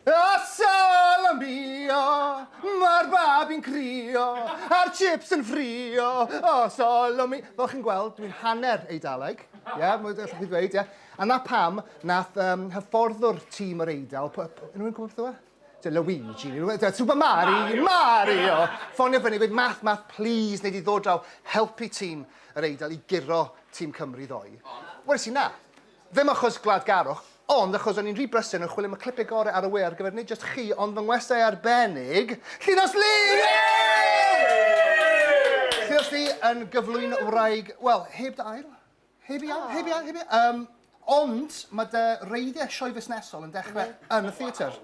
A salamio, mae'r babi'n crio, a'r chips yn ffrio, o solomi. Fel chi'n gweld, dwi'n hanner Eidaleg, ie, yeah, mae'n gallu chi ddweud, ie. Yeah. A na pam, nath um, hyfforddwr tîm yr Eidal, yn rwy'n gwybod beth yw e? Ti'n Luigi, ti'n Super Mario, Mario! Ffonio fyny, gweud, math, math, please, neu di ddod draw, helpu tîm yr Eidal i guro tîm Cymru ddoe. Wel, si na, Ddim achos gwladgarwch, ond achos o'n i'n rhy brysur yn chwilio am y clipiau gorau ar y we ar gyfer nid jyst chi, ond fy ngwestai arbennig, Llinos Lee! Llinos Lee yn gyflwyno wraig, wel, heb dy ail, heb ei ail, heb ei ail, heb ei ail. Yym, ond ma' dy wreiddiau sioe fusnesol yn dechrau yn y theatr.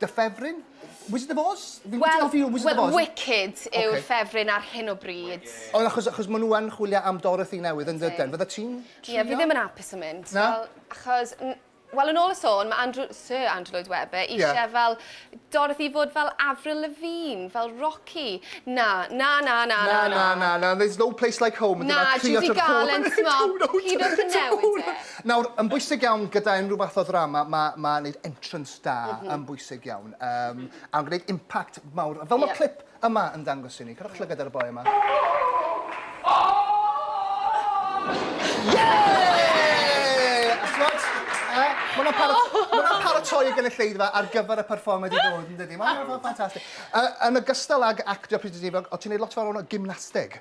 Dy ffefryn? Wizard of Oz? Fi'n gwybod ti'n hoffi Wizard of Oz. Wel, Wicked yw'r ffefryn ar hyn o bryd. Ond achos, achos maen nhw yn chwilio am Dorothy newydd yn dydyn, fydda ti'n trio? Ie, fi ddim yn hapus yn mynd. Na? Wel, achos, wel, yn ôl y sôn, mae Andrew, Sir Andrew Lloyd Webber eisiau fel Dorothy i fod fel Avril Lavigne, fel Rocky. Na, na, na, na, na, na. Na, na, na, there's no place like home. Na, Judy Garland, timod, hyd yn oed yn newid e. Nawr, yn bwysig iawn gyda unrhyw fath o ddrama, mae, mae wneud entrance. da mm -hmm. yn bwysig iawn um, mm -hmm. a yn gwneud impact mawr. Fel yeah. mae clip yma yn dangos i ni, cadwch llygad ar y boi yma. Mae'n parat, paratoi y gynulleidfa ar gyfer y performed i ddod, yn dydy. Mae'n ffantastig. Yn y gystal ag actio pryd o ti'n gwneud lot fawr o'n gymnasteg.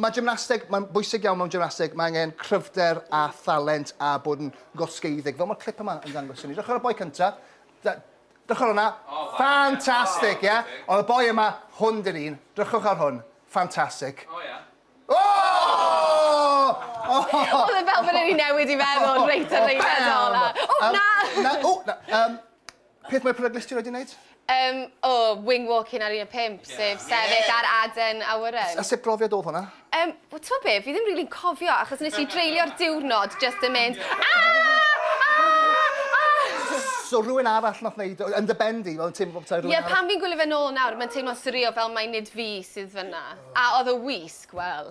Mae gymnasteg, mae'n bwysig iawn mewn gymnasteg, mae angen cryfder a thalent a bod yn gosgeiddig, fel mae'r clip yma yn dangos i ni. Dechrau y boi cynta, dechrau hwnna, ffantastig, ie? Ond y boi yma, hwn dyn ni'n, drychwch ar hwn, ffantastig. O ie. O! Oedd e fel bod e wedi newid i meddwl reit ar reithedol a, o na! O na! Peth mwy peryglus ti 'rioed 'di neud? Yym, o, wing walking ar un a pump, sef sefyll ar aden awyren. A sut brofiad odd hwnna? Yym, wel t'mo' be', fi ddim rili'n cofio achos nes i dreulio'r diwrnod jyst yn mynd aah! Aah! Aah! So rywun arall nath neud o, yn dy ben di, fel yn teimlo fel petai rywun arall... Ie, pan fi'n gwylio fe nôl nawr, ma'n teimlo'n swreal fel mai nid fi sydd fynna. A odd y wisg, wel.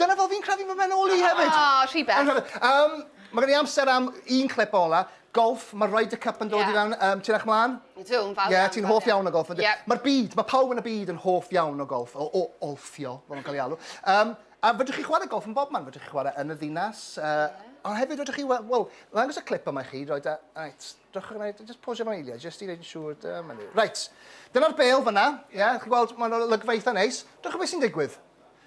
Dyna fel fi'n credu fy mhen ôl i hefyd! O, rhy bell. Yym, ma' gen i amser am un clip ola. Golff, ma' Ryder Cup yn dod i fewn yym ti'n eych mlan? Ydw, yn fawr iawn. Ie, ti'n hoff iawn o golff yndw? Ie. Ma'r byd, ma' pawb yn y byd yn hoff iawn o golff, o o olffio, fel ma'n cael ei alw. Yym, a fedrwch chi chwarae golff yn bob man, fedrwch chi chwarae yn y ddinas, yy... Ie. ...ond hefyd fedrwch chi we- wel, ddangos y clip yma i chi, reit, a reit, dewch a gwna i, j- jyst posio fo eiliad, jyst i wneud yn siŵr, dyma ni. Reit, dyna'r bêl fan'na, ie, chi'n gweld, ma'n olygfa eitha neis. Dewch a weld be sy'n digwydd.